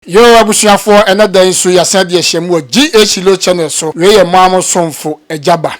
Yoo abusuafoɔ ɛnɛ da yi nso yasan de ahyia mu wɔ GA Shiloh channel so wei yɛ moa mo somfo Agya Ba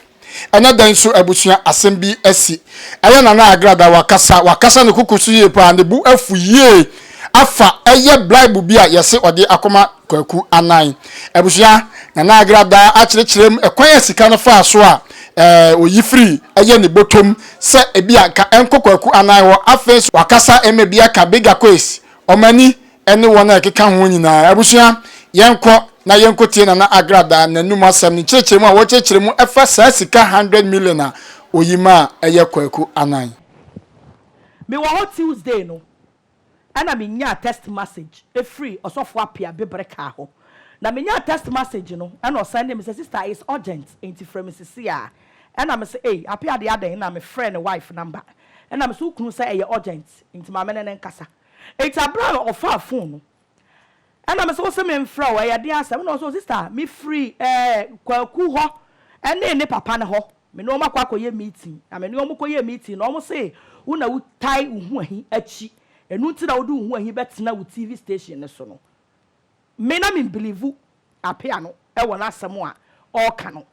ɛnɛ da yi nso abusua asɛm bi asi ɛyɛ Nana Agrada wakasa wakasa ne koko so yie paa ne bo afu yie afa ɛyɛ blaibu bi a yɛse ɔde akɔma Kwaku Anan abusua Nana Agrada akyerekyerem ɛkwan a sika no faa so a ɛɛ oyi firi ɛyɛ ne botom sɛ ebi a nka ɛnkɔ Kwaku Anan hɔ afei nso wakasa ɛma bi aka Big Akoes ɔmani ne wɔn a ɛkeka ho nyinaa. Abusua, yɛnkɔ na yɛnkɔtie Nana Agrada n'anom asɛm ne nkyerɛkyerɛmu a wɔkyerɛkyerɛ mu ɛfa saa sika 100 million a ɔyi ma a ɛyɛ kwaku anan. Mewɔ hɔ Tuesday no ɛna menyaa text message ɛfiri Ɔsɔfoɔ Appiah Beberekaa hɔ. Na menyaa text message no ɛna ɔsɛndee me sɛ, Sister, it's urgent enti frɛ me sesei ara. Ɛna me se, Ei, Appiah deɛ adɛn? Ɛna mefrɛɛ ne wife number. Ɛna me se, Wo kunu sɛ ɛyɛ urgent enti ma me ne no nkasa. Enti bere a ɔfaa fon no, ɛnna mise, Wose memfrɛ wo? Ɛyɛ den asɛm. Ɛnna ɔse, Oh sista, mifiri eh, Kwaku hɔ ne ne papa no hɔ. Me ne wɔn akɔ akɔyɛ meeting, na me ne wɔn kɔyɛɛ meeting no, wɔse wo na wotae wo ho ahi akyi, ɛno nti na wode wo ho ahi bɛtena wo TV station no so no. Me na mimbilivu apea no wɔ n'asɛm a ɔreka no.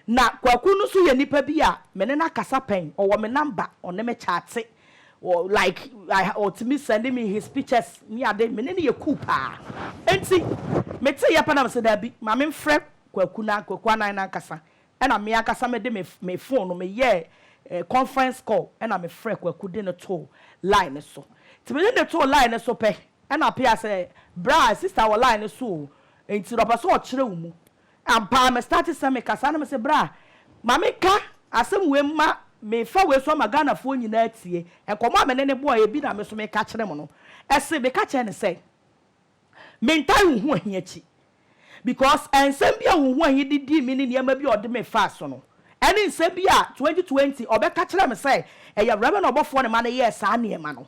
Na Kwaku no nso yɛ nipa bi a me ne no akasa pɛn, ɔwɔ me number, ɔne me kyate, like ɔtumi sɛnde me his pictures ne ade, me ne no yɛ cool paa. Enti meteeɛ pɛ na mese daabi, ma memfrɛ Kwaku na Kwaku Annan no ankasa Ɛna me ankasa mede me me phone no me yɛɛ eh conference call ɛna me frɛ Kwaku de no too line no so. Nti mede no too line no so pɛ ɛna Pia sɛ bra sister wɔ line no so o nti na ɔpɛ sɛ ɔkyerɛ wo mu. Ampa ara me start sɛ me kasa na me se bra ma me ka asɛm wei mma me fa wei so ama Ghanafoɔ nyinaa atie. Nkɔmmɔ a me ne no bɔeɛ bi na me nso me ka kyerɛ mo no. Ɛse me ka kyerɛ no sɛ. Mentaa nhu ahi akyi because nsɛm bi a wohu ahi de dii me ne nneɛma bi a ɔde me faa so no, ɛne nsɛm bi a twenty twenty ɔbɛka kyerɛɛ me sɛ ɛyɛ Awuraba na ɔbɔfoɔ ne ma no yɛɛ saa nneɛma no.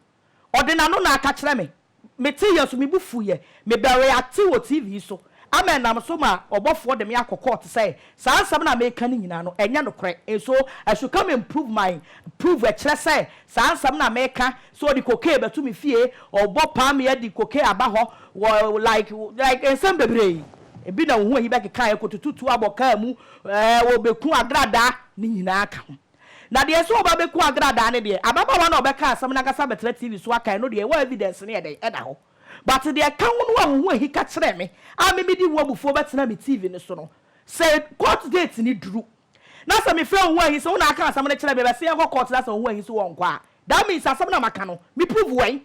Ɔde n'ano na aka kyerɛ me. Meteeɛ so, me bo fuiɛ. Mebɛreacte wɔ TV so ama ɛnam so ma ɔbɔfoɔ de me akɔ court sɛ Saa nsɛm no a meka no nyinaa no, ɛnyɛ nokorɛ. Nso, I should come and prove my prove ɛkyerɛ sɛ saa nsɛm no a meka sɛ ɔde cocaine bɛto me fie, ɔbɔ paa me adi cocaine aba hɔ, wɔ like like nsɛm bebree. Ebi na wo ho ahi bɛkekaeɛ, kɔtutu tuo abɔ kaa mu, ɛɛ wɔbɛku agradaa, ne nyinaa ka ho. Na deɛ sɛ wɔba bɛku agradaa no deɛ, ababaawa no a ɔbɛkaa asɛm no ankasa abɛtena TV so aka, ɛno deɛ, wɔ evidence no yɛ dɛn? Ɛda hɔ. But deɛ ɛka ho no a wo ho ahi ka kyerɛ me a me medi wo abufuo bɛtena me TV no so no, sɛ court date no duru na sɛ mefrɛ wo ho ahi sɛ wo na aka asɛm no kyerɛ me bɛse yɛnkɔ court na sɛ wo ho ahi so wɔnkɔ a, that means asɛm no a maka no me prove wɛn?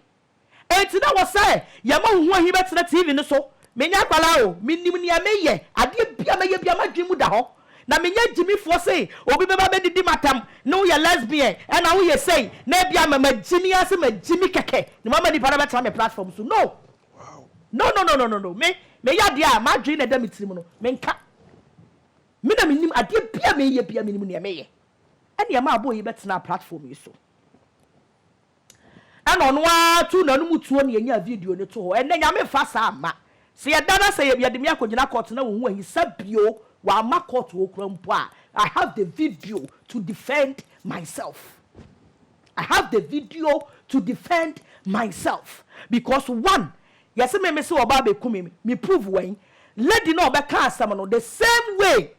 Enti na wɔ sɛ yɛma wo ho ahi bɛtena TV no so? Menyɛ akwadaa o, menim nea meyɛ, adeɛ bi a mɛyɛ biara m'adwene mu da hɔ na menyɛ gyimifoɔ sei obi bɛba bɛdidi matam ne wo yɛ lesbian ɛna wo yɛ sei na ebia ma magyimi ara sɛ magyimi kɛkɛ na mama nipa no abɛtra me platform so no no no no no no no me meyɛ adeɛ a madwene na ɛda me tirim no menka me na menim adeɛ bia meyɛ bia menim neɛ meyɛ ɛne ɛma abɔ yi bɛtenaa platform yi so. ɛna ɔno ara tu n'anom tuo na yɛnyaa video no to hɔ. Ɛnnɛ Nyame mfa saa mma. Sɛ yɛda no ase sɛ yɛde me akɔgyina court na ɔnhu ahinsa bio, wamma court hɔ koraa mpo a, I have the video to defend myself. I have the video to defend myself because one, yɛse me mese ɔba abɛku me, me prove wɛn? Lady no a ɔbɛkaa asɛm no the same way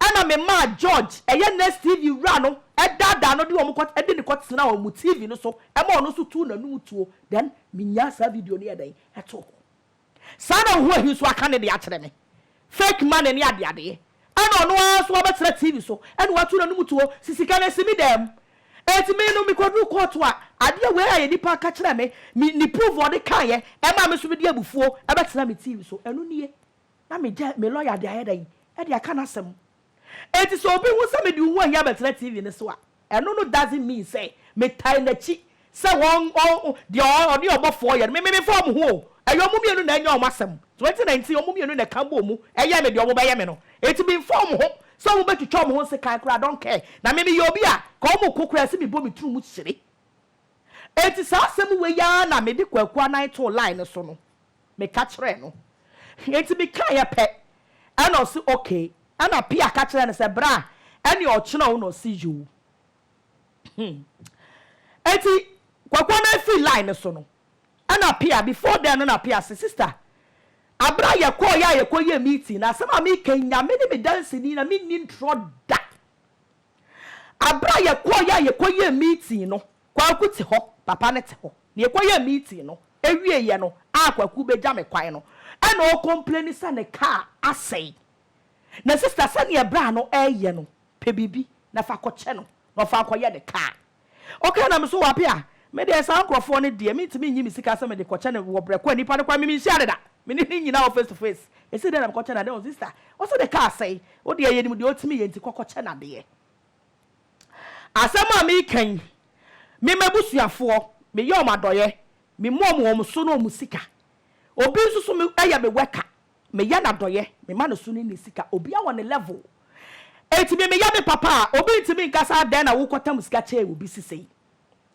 Ɛna me maa George, ɛyɛ Nest TV wura no, daadaa no de wɔn kɔ, de no kɔtenaa wɔn TV no so ma ɔno nso tuu n'anum tuo. Then menyaa saa video no yɛɛ dɛn? Ɛtoo hɔ. Saa na Ohuahi nso aka ne deɛ akyerɛ me. Fake money ne adeadeɛ. Ɛna ɔno ara nso abɛtena TV so na watu n'anum tuo sɛ sika no asi me dan mu. Enti me no mekɔduru kɔɔto a, adeɛ wei ayɛ nipa ka kyerɛɛ me, me, ne proof a ɔde kaeɛ maa me nso mede abufuo bɛtenaa me TV so. Ɛno nie. Na me gya, me lɔya de ayɛ dɛn de aka n'asɛm? Enti sɛ obi hu sɛ mede owu ahi abɛtena TV no so a, ɛno no doesn't mean sɛ metan n'akyi sɛ wɔn, ɔn, deɛ ɔn, ɔne ɔbɔfoɔ yɛ no. Me, me, memfa wɔn ho o. Ɛyɛ wɔn mmienu na ɛnyɛ wɔn asɛm. So enti na enti wɔn mmienu na ɛka bɔɔ mu yɛɛ me deɛ wɔbɛyɛ me no. Enti memfa wɔn ho sɛ wɔbɛtwitwa wɔn ho nsekan koraa, I don't care. Na me, meyɛ obi a, nka wɔko koraa ɛsɛ mebɔ me tiri mu hyire. Enti saa asɛm wei ara na mede Kwaku Anan too line no so no. meka kyerɛɛ no. Enti mekaeɛ pɛ, ɛna ɔse okay. Ɛna Pia ka kyerɛɛ no sɛ, Bra, ɛneɛ ɔkyena wo na ɔse yoo. Hmm. Enti Kwaku Annan firi line no so no, ɛna Pia, before then no na Pia se, Sister, aberɛ a yɛkɔɔeɛ a yɛkɔyɛɛ meeting no, asɛm a meka yi, Nyame ne me danseni na menni ntorɔ da. Aberɛ a yɛkɔɔeɛ a yɛkɔyɛɛ meeting no, Kwaku te hɔ, papa no te hɔ. Nea yɛkɔyɛɛ meeting no, awieeɛ no a Kwaku bɛgya me kwan no, ɛna ɔrekɔmpleni sɛ ne kaa asɛe. Na sista sɛdeɛ bra no reyɛ no, pɛ biribi na fa kɔkyɛ no na ɔfa nkɔyɛ ne kaa. Ɔkae na me so, Wape a, me deɛ saa nkorɔfoɔ no deɛ, mentumi nnye me sika sɛ mede kɔkyɛ no wɔ brɛ ko a nipa no koraa me menhyia no da, me ne no nnyina hɔ face to face. Ɛsei dɛn na mekɔkyɛ no adeɛ? Ɔse, Sista, ɔse ne kaa asɛe, wo deɛ yɛnim deɛ ɔtumi yɛ nti kɔ kɔkyɛ no adeɛ. Asɛm a mereka yi, me m'abusuafoɔ, meyɛ wɔn adɔeɛ, memu wɔn wɔn so ne wɔn sika. Obi nso so me, yɛ me worker, meyɛ no adɔeɛ, mema no so ne ne sika. Obiara wɔ ne level. Enti me meyɛ me papa a, obi ntumi nka sɛ adɛn na wokɔtam sika kyɛɛ obi sesei.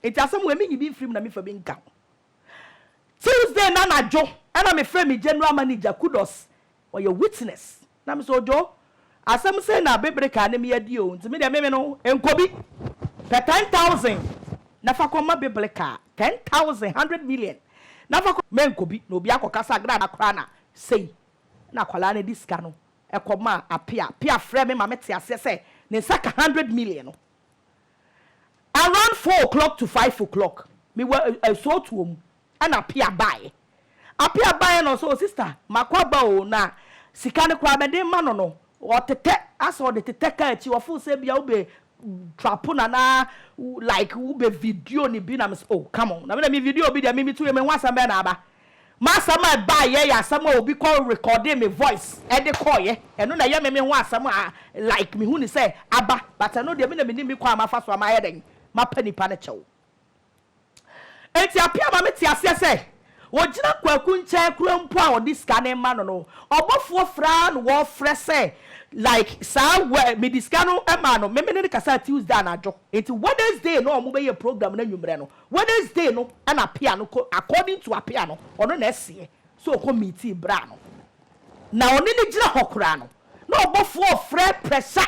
Enti asɛm wei menyi bi mfiri mu na memfa bi nka ho. Tuesday no anadwo na mefrɛɛ me general manager, Kudos, ɔyɛ witness. Na me sɛ Ojo, asɛm sei na bebere kaa ne me adi o, nti me deɛ me me no nkɔ bi. Pɛ ten thousand na fa kɔ ma bebere kaa, ten thousand, hundred million na fa kɔ, me nkɔ bi na obi akɔ ka sɛ Agrada koraa na sei na akwadaa no de sika no kɔ maa Apea, Apea frɛ me ma me te aseɛ sɛ ne nsa ka hundred million no around four o'clock to five o'clock, me wɔ asuo tuo mu, ɛna Apia baeɛ. Apia baeɛ na ɔsɛ o sista makɔ aba o na sika no koraa mede rema no no ɔtetɛ asɛ ɔde tetɛ kaa akyi ɔfoo sɛ bia wobɛ trapo no anaa like wobɛ video no bi na mesɛ o come on na me deɛ me video bi deɛ me me tiri me ho asɛm bɛn na aba m'asɛm a ɛbaeɛ yɛ asɛm a obi kɔ recording me voice ɛde kɔeɛ ɛno na ɛyɛ me me ho asɛm a like mehu no sɛ aba but ɛno deɛ me na menim me kwan a mafa so a mayɛ dɛn mapa nipa no kyɛw. Enti Appiah ma mete aseɛ sɛ, wɔgyina Kwaku nkyɛn koraa mpo a wɔde sika no rema no no, ɔbɔfoɔ frɛ ara na wɔfrɛ sɛ like saa wɛ mede sika no maa no, me me ne no kasaa Tuesday anadwo, enti Wednesday na wɔbɛyɛ program no anwummerɛ no, Wednesday no na Appiah no kɔ, according to Appiah no, ɔno na ɛseɛ, sɛ ɔkɔ miitii bere a no na ɔne no gyina hɔ koraa no, na ɔbɔfoɔ refrɛ prɛsa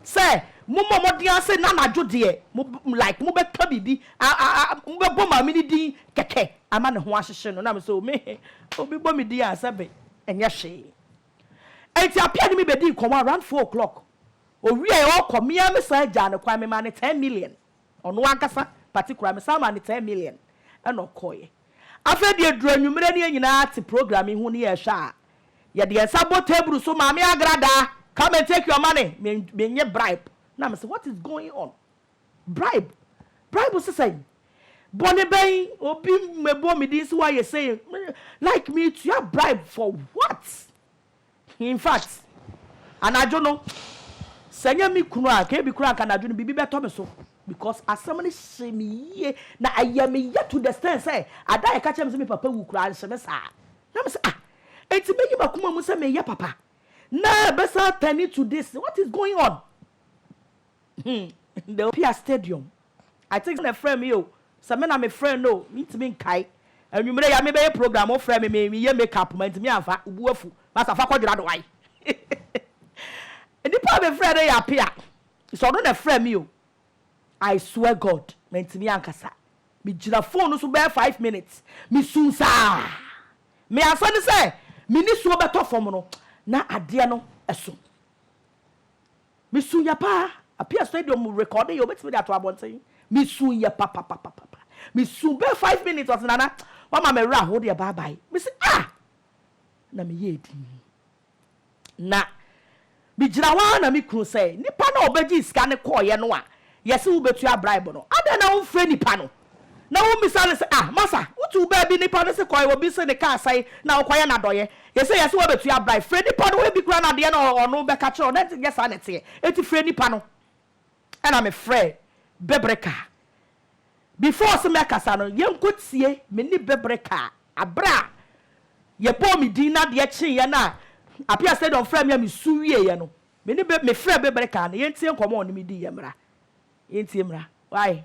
sɛ, Mommɔ mmɔden ara sɛ nnɛ anadwo deɛ mo, like, mobɛka biribi, a, a, a, mobɛbɔ Maame no din kɛkɛ ama ne ho ahyehye no. Na me sɛ, Oh, me he, obi bɔ me din a, sɛbe ɛnyɛ hwee. Enti Apia ne me bɛdii nkɔmmɔ around four o'clock. Ɔwieeɛ, ɔrekɔ, me ara mesan gyaa no kwan, memaa no ten million. Ɔno ankasa particular me san maa no ten million ɛna ɔkɔeɛ. Afei deɛ ɛduru anwummerɛ ne yɛn nyinaa te program yi ho ne yɛrehwɛ a, yɛde yɛn nsa bɔ table so, Maame Agradaa, come and take your money, me mennye bribe. Na me se what is going on? Bribe? Bribe se sɛn? Bɔne bɛn? Obi mmɛbɔ me din se woayɛ sei, like metua bribe for what? In fact, anadwo no, sɛ ɛnyɛ me kunu a, anka ebi koraa anka anadwo no biribi bɛtɔ me so because asɛm no hyee me yie na ɛyɛ me ya to the extent sɛ ada a yɛka kyerɛɛ me sɛ me papa wu koraa anhye me saa. Na me sɛ ah, enti meyi m'akoma mu sɛ meyɛ papa na ɛbɛsan turn into this, what is going on? Hmm, the Olympia Stadium, I think sɛ na ɛfrɛɛ me o, sɛ me na mefrɛɛ no o, mentumi nkae. Anwumerɛ yi a merebɛyɛ program, wofrɛɛ me, mereyɛ makeup, mantumi amfa, wo bo afu, Master fa kɔdwera do ae. Nipa a mefrɛɛ no yɛ Apea, sɛ ɔno na ɛfrɛɛ me o, I swear God, mantumi ankasa. Megyina phone no so bɛyɛ five minutes, mesuu saa. Me ansa ne sɛ me nisuo bɛtɔ fam no, na adeɛ no so. Me suu yɛ paa. Apia stadium mu recording yɛ obetumi de ato abɔnten. Me suu yɛ papapapapa. Me suu bɛɛ five minutes ɔse Nana wama me wera ho deɛ bye bye. Me se ah! Na me yɛɛ din. Na me gyina hɔ ara na me kunu sɛ nipa no a obegyee sika no kɔɔyɛ no a yɛse wobetua bribe no adɛn na wonfrɛ nipa no? Na wommisa no sɛ, Ah, masa, wotuu baabi nipa no se kɔe, obi se ne kaa sɛe, na wokɔyɛ no adɔeɛ? Yɛse yɛse woabetua berae. Frɛ nipa no, ebi koraa na adeɛ no a ɔno bɛka kyerɛ wo no nyɛ saa na ɛteɛ. Enti frɛ nipa no. Ɛna mefrɛɛ Bebere kaa. Before se mɛkasa no, yɛnkɔtie me ne Bebere kaa. Berɛ a yɛbɔɔ me din na adeɛ kyeeɛ na Apia Stadium frɛɛ me a mesu wieeɛ no, me ne Be, mefrɛɛ Bebere kaa no, yɛntie nkɔmmɔ a ɔne me diiɛ mmra. Yɛntie mmra. Why?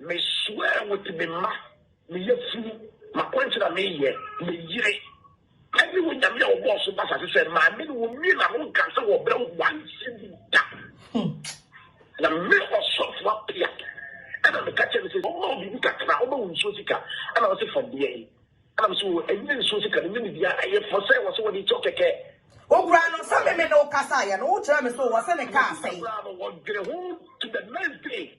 Me swear with me mma, me yafunu, makwankyerɛ a me yɛ, me yere, ɛne Onyame a ɔbɔɔ so ba asase sɛ maame no wɔ mie na no nka sɛ wɔ brɛ one cedi da. Na me ɔsɔfo apia ɛna me ka kyerɛ no sɛ ɔma wo biribi kakra, ɔma wo nsuo sika ɛna ɔse fa deɛ yi ɛna me sɛ o ɛnyɛ nsuo sika no nyɛ ne bia ɛyɛ fɔ sɛ wɔ sɛ wɔde kyɛw kɛkɛ. Ɔkura no sɛ me me ne wo kasa yɛ no wo kyerɛ me so wɔ sɛ ne kaa sɛn. Ɔkura no wɔdwene ho to the next day.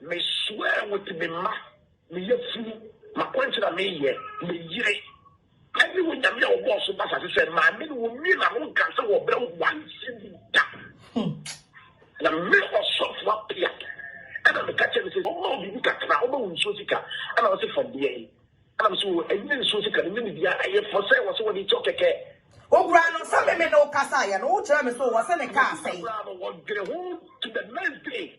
Me swear with me mma, me yafunu, makwankyerɛ a me yɛ, me yere, ɛne Onyame a ɔbɔɔ so ba asase sɛ maame no wɔ mie na no nka sɛ wɔ brɛ one cedi da. Na me ɔsɔfo apia ɛna me ka kyerɛ no sɛ ɔma wo biribi kakra, ɔma wo nsuo sika ɛna ɔse fa bua yi ɛna me sɛ o ɛnyɛ nsuo sika no nyɛ biribiara ɛyɛ fɔ sɛ wɔ sɛ wɔde kyɛw kɛkɛ. Ɔkura no sɛ me me ne wo kasa yɛ no wo kyerɛ me so wɔ sɛ ne car asɛe. Ɔkura no ɔdwene ho to the next day.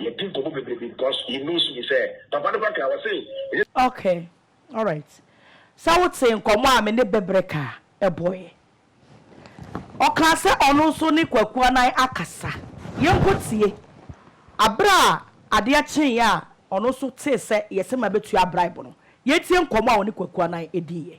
Yɛdi nkɔmmɔ bebree because he knows me sɛ papa no bɛka ɔse ɛnyɛ. Ok alright sɛ wotee nkɔmmɔ a me ne Bɛbrɛka bɔeɛ. Ɔkaa sɛ ɔno nso ne Kwaku Anan akasa. Yɛnkɔtie aberɛ a adeɛ kyeeɛ a ɔno nso tee sɛ yɛse mabɛtua bribe no. Yɛntie nkɔmmɔ a ɔne Kwaku Anan diiɛ.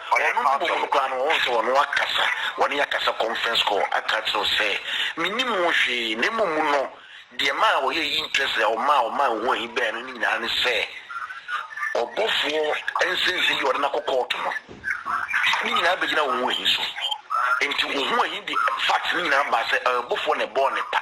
Ɔyɛ no mmom no koraa no, ɔhuu sɛ ɔno akasa, wɔne yɛ akasa conference call, aka akyerɛ wo sɛ, Mennim wo hwee, na mmom no, deɛ ɛmaa ɔyɛ ayi interest a ɔmaa ɔmaa nhu ahi baeɛ no ne nyinaa ne sɛ, ɔbɔfoɔ nsensen yi a ɔde no akɔ kɔɔto no, ne nyinaa bɛgyina wo ho ahi so. Enti wo ho ahi de facts no nyinaa baa sɛ, ɔyɛ ɔbɔfoɔ na ɛbɔɔ no paa.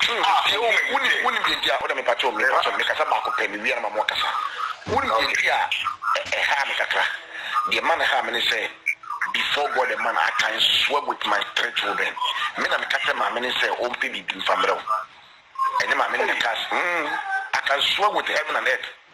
True ah ɛwɔ mu wonim wonim deɛ nti a woda mepakyɛw mepakyɛw mekasa baako pɛ mewia na ma mo akasa wonim deɛ nti a ɛhaa me kakra deɛ ma no haa me ne sɛ before God a man I can swear with my three children me na meka kyerɛ maame ne sɛ ɔmpɛ biribi mfa mmerɛ wo ɛnyɛ maame ne meka mm I can swear with heaven and earth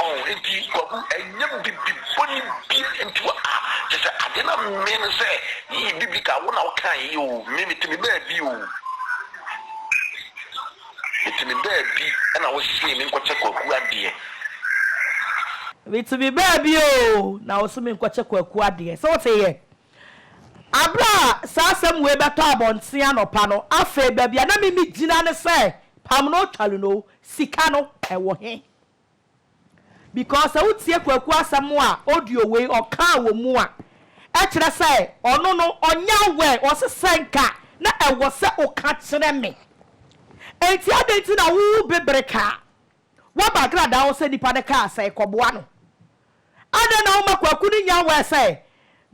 Ɔho enti kwaku ɛnyɛ bibi bɔne bia nti wɔ a kyesɛ adeɛ na mmee no sɛ yeye bibi ka wo na wo kan yeye o mmee me timi baa bi o me timi baa bi ɛna wo see me nkɔkyɛ kwaku adeɛ. Me timi baa bi o na wo se me nkɔkyɛ kwaku adeɛ sɛ wo te yɛ abere a saa asɛm wei bɛtɔ abɔnten anɔpa no afei baabi a na me me gyina ne sɛ pam no twa lu no Sika no ɛwɔ he? Because sɛ wotie Kwaku asɛm a audio wei ɔkaa wɔ mu a, ɛkyerɛ sɛ ɔno no ɔnyɛ aware, ɔse sɛ nka na ɛwɔ sɛ woka kyerɛ me. Enti adɛn nti na wo bebere kaa? Woaba gradaa hɔ sɛ nipa no kaa sɛn kɔboa no? Adɛn na woma Kwaku no nya word sɛ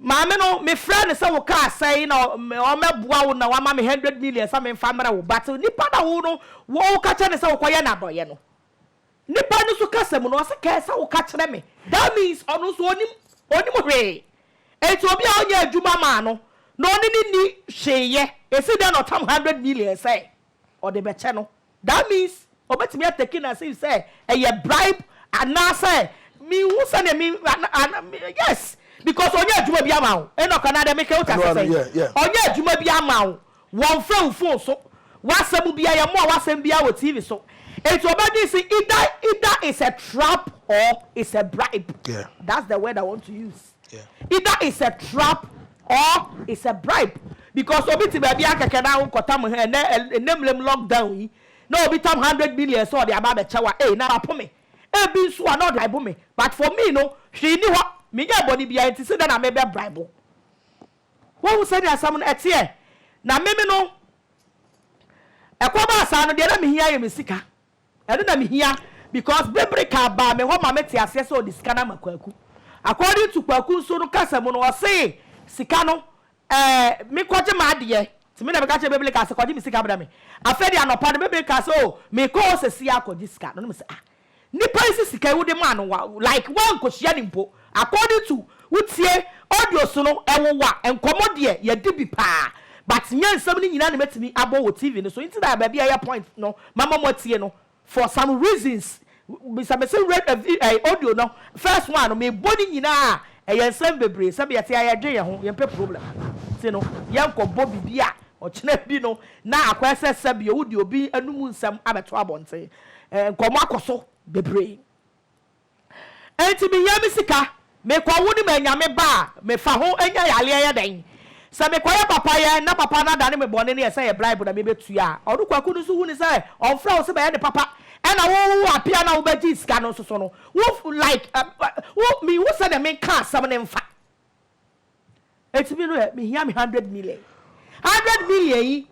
maame no mefrɛɛ no sɛ wo car sɛe na ɔmmɛboa wo na wama me hundred million sɛ memfa mmrɛ wo but nipa na wo no woka kyerɛ no sɛ wokɔyɛ no adɔyɛ no nipa no nso kasa mu no ɔse kɛɛ sɛ woka kyerɛ me that means ɔno nso ɔnim ɔnim hwee enti obi a ɔnyɛ adwuma maa no na ɔne no nni hwee yɛ ɛsi dɛn na ɔtam hundred million sɛ ɔde bɛkyɛ no that means ɔbɛtumi atake no as if sɛ ɛyɛ bribe anaasɛ menhu sɛdeɛ me yes because ɔnyɛ adwuma bi ama wo Enoch anaadɛ meka wote ase sɛn ɔnyɛ adwuma bi ama wo wɔmfrɛ wo phone so w'asɛm bia yɛmmoa w'asɛm bia wɔ TV so nti ɔbɛdwen se either either it's a trap or it's a bribe that's the word I want to use. Either it's a trap or it's a bribe because obi te baabi ara kɛkɛ na wokɔtam he ɛnɛ ɛnɛ mmerem lock down yi na obi tam hundred million sɛ ɔde aba abɛkyɛ wo a ei na wapo me ebi nso a na ɔde bribe me but for me no hwee nni hɔ menyɛɛ bɔne biara nti sɛ dɛn na mebɛ bribe wo woahu sɛdeɛ asɛm no ɛteɛ na meme no ɛkɔbaa saa no deɛ na mehia yɛ me sika Ɛno na mehia because Bibri kaa baa me hɔ ma mete aseɛ sɛ ɔde sika no ama Kwaku. According to Kwaku nso no kasa mu no ɔse sika no eh me kɔgye m'adeɛ nti me na meka kyerɛɛ Bibri kaa sɛ kɔgye me sika brɛ me. Afei deɛ anɔpa no Bibri kaa sɛ oh mekɔ hɔ sesie akɔgye sika no na mese ah nipa yi se sika yi wode maa no wa like woankɔhyia no mpo According to wo tie audios no ɛwowa nkɔmɔ deɛ yɛdi bi paa but nyɛ nsɛm no nyinaa na mɛtumi abɔ wɔ TV no so nti na baabi a ɛyɛ point no mama mo atie no for some reasons bisa me sɛ wura audio no first one no mebɔ no nyinaa a ɛyɛ nsɛm bebree sɛbi yɛte a yɛdwen yɛn ho yɛmpɛ problem nti no yɛnkɔ bɔ bibi a ɔkyena bi no na akɔyɛ sɛ sɛbi wo de obi anum nsɛm abɛto abɔnten nkɔmɔ akɔ so bebree. Enti meyɛ me sika mekɔ wo ne manya me ba a mefa ho nya yareɛ ɛyɛ dɛn sɛ mekɔyɛ papa yɛ na papa no adane me bɔne no yɛ sɛ yɛ bribe na mebɛtua a ɔno kwaku no nso hu ne sɛ ɔmfrɛ wo sɛ bɛyɛ ne papa ɛna wo wo apia na wobɛgyee sika no nso so no wo like wo me wo sɛdeɛ menka asɛm no mfa Eti me no ɛ me hia me hundred million hundred million yi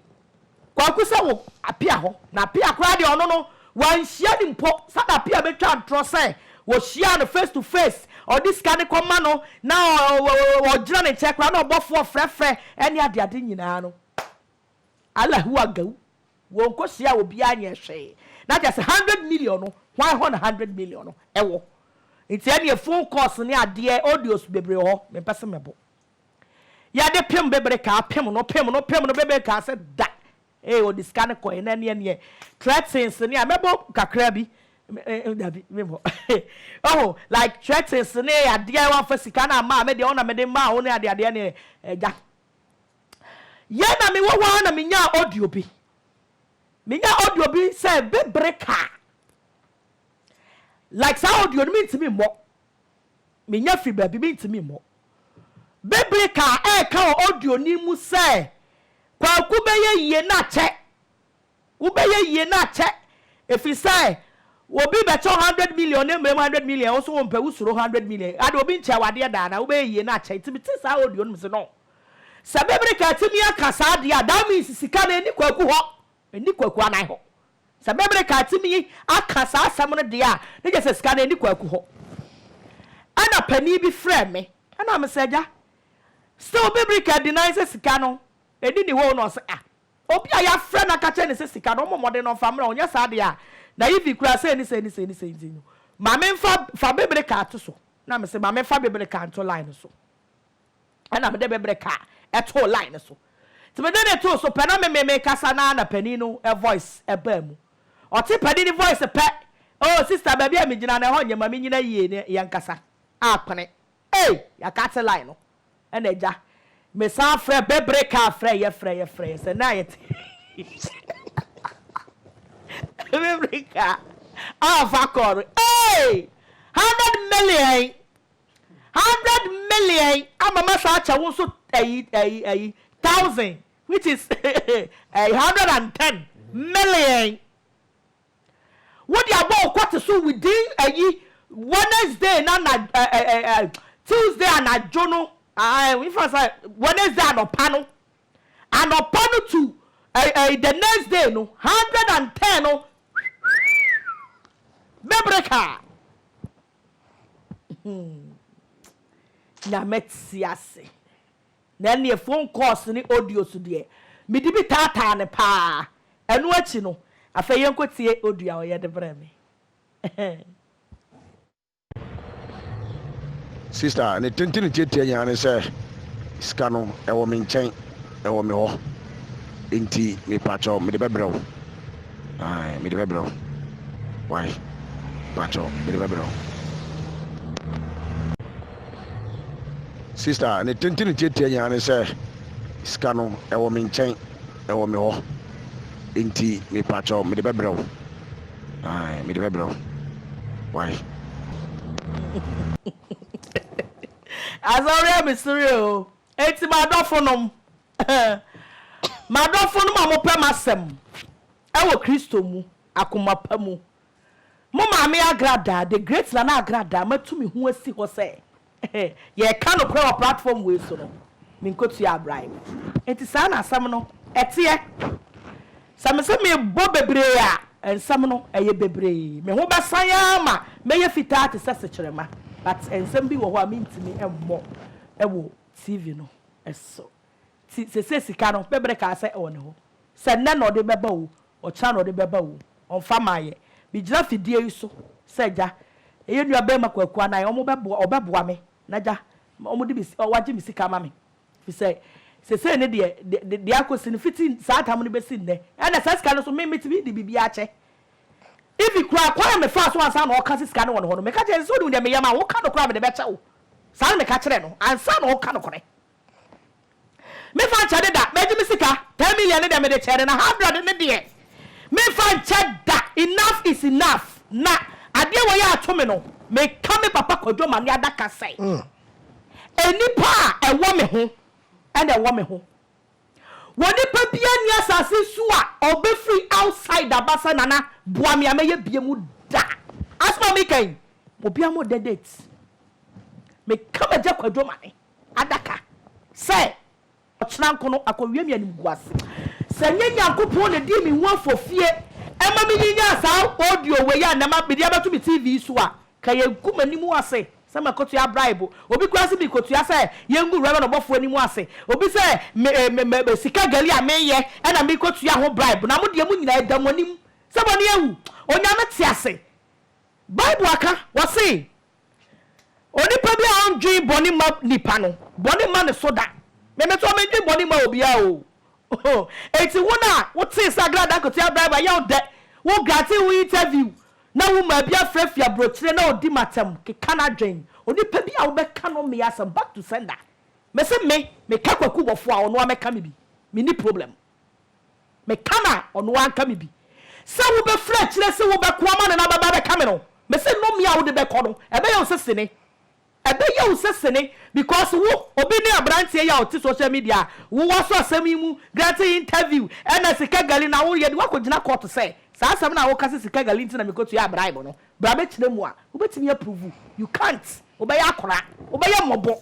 kwaku sɛ wo apia hɔ na apia koraa deɛ ɔno no wanhyia no mpo sɛdeɛ apia bɛtwa ntorɔ sɛ wɔhyiaa no face to face ɔde sika no kɔ ma no na ɔ ɔ ɔgyina ne nkyɛn koraa na ɔbɔfoɔ frɛfrɛ ɛne adeade nyinaa no Allahu agaw wɔnkosiaa obiara nyɛɛ hwee na kyerɛ sɛ hundred million no hwan hɔ na hundred million no wɔ nti ɛneɛ phone calls ne adeɛ audios bebree wɔ hɔ mempɛ se mebo yɛde pem bebere kaa pem no pem no pem no bebere kaa sɛ da ee ɔde sika no kɔɛ na ɛneɛ neɛ threatens ne a mɛbɔ kakra bi dabi mebɔ oh like threatens ne adeɛ wamfa sika no amaa me deɛ ɔna mede maa wo ne adeadeɛ ne ɛgya Yɛ na mewɔ hɔ ara na menyaa audio bi. Menyaa audio bi sɛ bebere kaa. Like saa audio no mentumi mmɔ. Menya firi baabi mentumi mmɔ. Bebere kaa ɛreka wɔ audio no mu sɛ kwaku bɛyɛ yie na kyɛ. Wobɛyɛ yie na akyɛ ɛfiri sɛ obi bɛkyɛ wo hundred million na mmerɛ mu hundred million wo so wo mpɛ wo suro hundred million ade obi nkyɛ wo adeɛ da anaa wobɛyɛ yie na akyɛ nti mete saa audio no mese no sɛ Bebrika atumi aka saa adeɛ a that means sika no ɛnni Kwaku hɔ ɛnni Kwaku anan hɔ sɛ Bebrika atumi aka saa asɛm no deɛ a ne gye sɛ sika no ɛnni Kwaku hɔ ɛna panin bi frɛ me ɛna mese agya still Bebrika deny sɛ sika no ɛnni ne hɔ o na ɔse ah Obi a yɛafrɛ no aka kyerɛ no sɛ sika no, ɔmmɔ mmɔden na ɔmfa mmra. Ɔnyɛ saa deɛ a, Naivi kura sei ne sei ne sei ne sei nti no, ma memfa, fa bibire kaa to so. Na mese, ma memfa bibire kaa nto line no so. Ɛnna mede bibire kaa too line no so. Nti mede no too so pɛ, na me me mekasa no ara na panin no voice baa mu. Ɔte panin no voice pɛ, Oh, sister, baabi a megyina no, ɛhɔ nyɛ, ma menyina yie na yɛnkasa. Apene. Ei yɛakate line no ɛna agya mesan frɛ bɛbere kaa frɛ yɛ frɛ yɛ frɛ yɛ sɛ na yɛte bɛbere kaa a ɔfa kɔɔ no ei hundred million hundred million ama mɛsan akyɛ wo nso ayi ayi ayi thousand which is ɛyi hundred and ten million Wode abɔ wo kɔte so within ayi Wednesday na na ɛ ɛ ɛ ɛ Tuesday anadwo no ah ɛ nfa sa Wednesday anɔpa no anɔpa no to ɛ ɛ the next day no hundred and ten no bɛbrɛ ka hmm nyame te ase. Na ɛnneɛ phone calls ne audios deɛ, mede bi taataa no pa ara. Ɛno akyi no, afei yɛnkɔtie audio a ɔyɛ de brɛɛ me. Sister, ne tenten tiatia nyinaa ne sɛ, sika no, ɛwɔ me nkyɛn, ɛwɔ me hɔ. Enti, mepakyɛw, mede bɛbrɛ wo. Ae, mede bɛbrɛ wo. Wai, pakyɛw, mede bɛbrɛ wo. Sista, ne tenten tiatia nyinaa ne sɛ sika no ɛwɔ me nkyɛn, ɛwɔ me hɔ. Nti mepakyɛw mede bɛbrɛ wo. Ae, mede bɛbrɛ wo. Why? Asɔre a mesere o. Enti m'adɔfo nom. M'adɔfo nom a mopɛ m'asɛm ɛwɔ Kristo mu, akoma pa mu. Mo Maame Agradaa, The Great Nana Agradaa, matu me ho asi hɔ sɛ yɛreka nokorɛ wɔ platform wei so no, menkɔtuaa bribe. Enti saa na asɛm no teɛ. Sɛ mese mebɔ bebree a, nsɛm no yɛ bebree. Me ho bɛsan ara ma mɛyɛ fitaa te sɛ sekyerɛma. But nsɛm bi wɔ hɔ a mentumi mmɔ wɔ TV no so. Nti seesei sika no, Bebre kaa sɛ ɛwɔ ne hɔ. Sɛ nnɛ na ɔde bɛba o, ɔkyena na ɔde bɛba o, ɔmfa mmaeɛ. Megyina fidie yi so sɛ Agya, ɛyɛ Nuabarima Kwaku Anan, wɔbɛboa, ɔbɛboa me na Agya, wɔde me, wɔagye me sika ama me. Ɛfiri sɛ, seesei no deɛ, de, de, deɛ akɔsi no, fiti saa tam no bɛsi nnɛ, ɛnna saa sika no nso, me, metumi de biribiara kyɛ. Even koraa, kwan a mefaa so ansa na ɔreka sɛ sika no wɔ ne hɔ no, meka kyerɛɛ no sɛ, wonim deɛ meyɛ ma wo, woka nokorɛ a, mede bɛkyɛ wo. Saa na meka kyerɛɛ no, ansa na ɔreka nokorɛ. Me fa nkyɛ de da Magye me sika ten million ne deɛ mede kyɛɛ no na hundred ne deɛ me fa nkyɛ da Enough is enough Na adeɛ wei a ato me no Me ka me papa Kwadwo Mane adaka sɛ Nnipa a ɛwɔ me ho na ɛwɔ me ho Wɔ nipa biara nni asase so a ɔbɛ firi outside aba sɛ Nana boa me a mɛyɛ bie mu da Asɛm a me ka yi obiara mmɔ da date Me ka m'agya Kwadwo Mane. adaka sɛ ɔkyena nko no akɔwie me animguase. Sɛ nyɛ Nyankopɔn na dii me ho afofie ma me nyinyaa saa audio wei a nɛ mede abɛto me TV so a, nka yɛngu m'anim ase sɛ makɔtua bribe. Obi koraa se merekɔtua sɛ yɛngu Rev. Ɔbɔfoɔ anim ase. Obi sɛ me, me, me, me sika gari a menyɛ na merekɔtua ho bribe. Na mo deɛ mo nyinaa ɛda mo anim sɛ mo ani awu. Onyame te ase. Bible aka, wɔse Onipa bi a ɔndwen bɔne mma nnipa no, bɔne mma ne so da. Me me nso, mendwen bɔne mma obiara o. Oho, enti wo no a wotee sɛ Agra Dankote abrɛ wo, ɛyɛ wo dɛ, wo grantee wo interview na womaa bi afra fi aburokyire na ɔdi m'atɛm, keka n'adwen. Onipa bi a wobɛka no mmea asɛm, back to sender. Mese me, meka Kwaku Bɔfoɔ a, ɔno ara mɛka me bi. Menni problem. Meka no a, ɔno ara nka me bi. Sɛ wobɛfiri akyire se wobɛko ama no na bɛba bɛka me no, mese nnome a wode bɛkɔ no, ɛbɛyɛ wo sɛ sini. Ɛbɛyɛ wo sɛ sini because wo, obi ne abranteɛ yi a ɔte social media a wowɔ so asɛm yi mu granting interview ɛna sika gali na woreyɛ de woakɔgyina court sɛ saa asɛm no a woka sɛ sika gali nti na mekɔtuaa bribe no, bra bɛkyerɛ mu a wobɛtumi approve. You can't. Wobɛyɛ akora. Wobɛyɛ mmɔbɔ.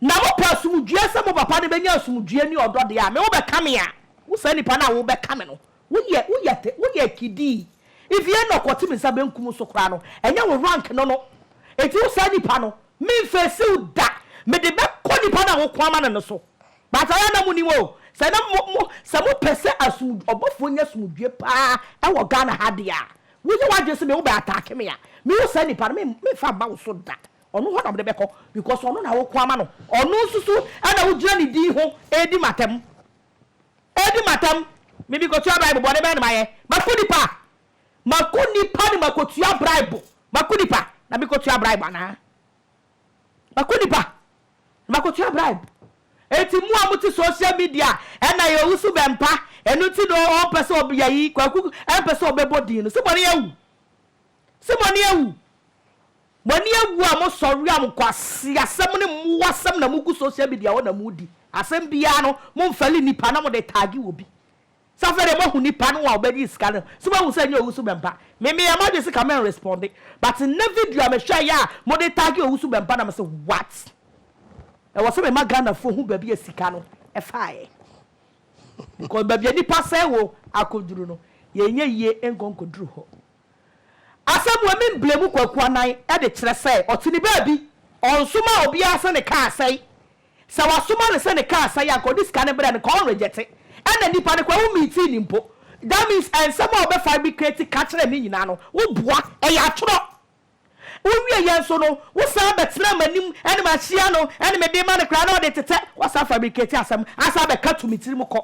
Na mo pɛ asomdwoeɛ sɛ mo papa no bɛnya asomdwoeɛ ne ɔdɔ deɛ a, me wo bɛka me a, wo saa nipa no a wo bɛka me no, wo yɛ, wo yɛ, wo yɛ kidii. If yɛ na ɔkɔte me nsa benkum wo so koraa no, ɛnyɛ wo rank no no. Enti wo saa nipa no, me nfeesi wo da, me de bɛkɔ nipa no a wo ko ama no no so. But ayɛ a na mo nim o, sɛ na mo, mo, sɛ mo pɛ sɛ asomdw, ɔbɔfoɔ nya asomdwoeɛ paa ɛwɔ Ghana ha deɛ a, wo yɛ w'adwene sɛ me wo bɛ attack me a, me wo saa nipa no, me, me nfa mma wo so da. Ɔno hɔ na mede bɛkɔ because ɔno na woko ama no. Ɔno nso so na wogyina ne din ho redi m'atam. Redi m'atam. Me mekɔtua bribe, bɔne bɛn na mayɛ? Mako nipa a? Mako nipa na makɔtua bribe? Mako nipa na mekɔtua bribe anaa? Mako nipa na makɔtua bribe? Enti mo a mote social media a, ɛna yɛ ɔwusu bɛmpa, ɛno nti na ɔmpɛ sɛ ɔyɛ ayi, Kwaku mpɛ sɛ ɔbɛbɔ din no. So bɔne awu? Se mo ani awu, mo ani awu a mo sɔre a mo nkwaseasɛm ne mmoasɛm na mo gu social media hɔ na mo di. Asɛm biara no mo nfɛle nipa na mo de tagge obi. Se afei deɛ mo ahu nipa no a ɔbɛgye sika no, se mo ahu sɛ ɛnyɛ Owusu Bɛmpa. Me me yɛ m'adwene se ka me nresponde but nnɛ video a me hwɛɛ yɛ a mo de tagge Owusu Bɛmpa na me se what? Ɛwɔ se me ma Ghanafoɔ hu baabi a sika no faeɛ because baabi a nipa sɛe wɔ akɔduru no yɛn nyɛ yie nkɔ nkɔduru hɔ. Asɛm wei me mblemu Kwaku anan de kyerɛ sɛ ɔte ne baabi. Ɔnsomaa obiara sɛ ne car asɛe. Sɛ wasoma no sɛ ne car asɛe a nka ɔde sika no brɛ no nka ɔn reject. Ɛna nnipa no koraa wo meetii no mpo. That means ɛnsɛm a ɔbɛ fabricate ka kyerɛ me nyinaa no wo boa ɛyɛ atorɔ. Wo wie yɛ nso no wo san bɛ tena m'anim ɛne ma hyia no ɛne me de ma no koraa na ɔde tetɛ. Wa san fabricate asɛm asan bɛ ka to me tiri mu kɔ.